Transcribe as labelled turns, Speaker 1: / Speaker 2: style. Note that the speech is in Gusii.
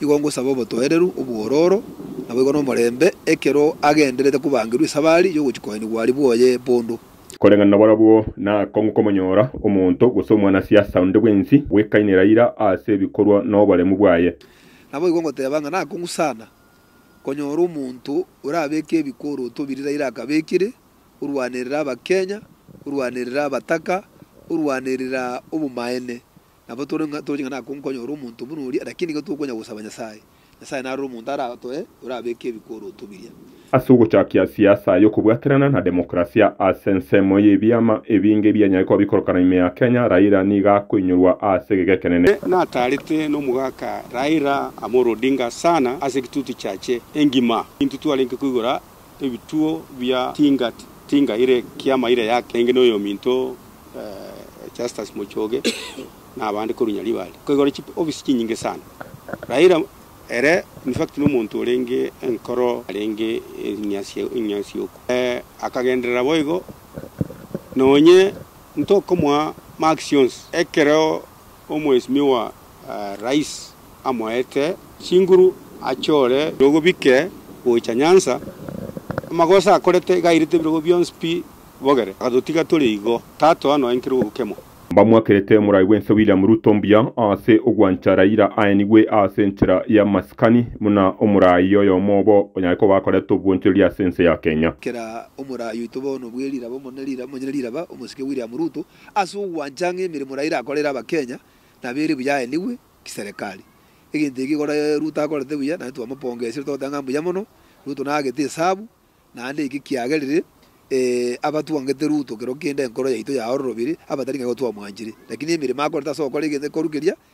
Speaker 1: igo ngosaba obotoereru, obwororo, naboigo nomorembe, ekero agenderete kobangerwa esabari y'ogochia koenigwa aria bwoye bondo. Koreng'ana nabarabwo,
Speaker 2: nakong'u komonyora omonto, gose omwanasiasa onde bwensi, bwekainera ira ase ebikorwa noboremu bwaye. Naboigo ngoteba
Speaker 1: ng'a nakong'u sana konyora omonto orabeke ebikoroto biri Raila akabekire, orwanerera Abakenya, orwanerera abataka, orwanerera obomaene, Nabo tore ng'a toche ng'a nakonkonya ore omonto buna oria, lakini iga tokonya gosaba Nyasae. Nyasae nare ore omonto aratoe, orabeeke ebikoroto biria. Ase ogochaakia
Speaker 2: siasa y'okobwaterana na democrasia ase ensemo y'ebiama ebinge ebianyare koba bikorokana ime ya Kenya, Raila nigo akoinyorwa ase egeka ekenene. Nataarete
Speaker 3: n'omogaka Raila Amolo Odinga sana ase egitutu kiache engima. Intwe twarenge koigora ebituo bia tinga tinga ere ekiama ire yake enge noyominto Justus Mochoge na abande korwa Nyaribari koigoro chi office chinyinge sana Raila ere in fact nomonto orenge enkoro arenge eng'asi eng'asi oku akagenderera boigo nonye ntokomoa marks yonsi ekero Omwesimiwa Rais amoete chinguru achore nogobike gocha Nyanza, amagoso akorete igairete ebirogo bionsi pi bogere, agatotiga tore igo, Tato anoenkire ogokemwa. Mbamoakerete Morai
Speaker 2: bw'ense William Ruto mbuya ase ogwancha Raila aenigwe ase enchera ya masikani buna omorai oyomo obo onyare koba akorete obwonchoreria ase ense ya Kenya. Kera omorai
Speaker 1: oito bono bwe riraba omone riraba omonyene riraba omosike William Ruto Ase ogwancha ng'a emeremo Raila akorere abakenya nabo ere buya aenigwe kiserekari. Egento eke igoro Ruto akorete buya naende twamopongesire togoteba ng'a mbuya mono, Ruto naagete esabu naende eke kiagerire abatwangete Ruto kero kende enkoro yaito yaororobiri abatari ng'a igo twamwanchire. Lakini emeremo akorete ase ogokora egento ekorukeria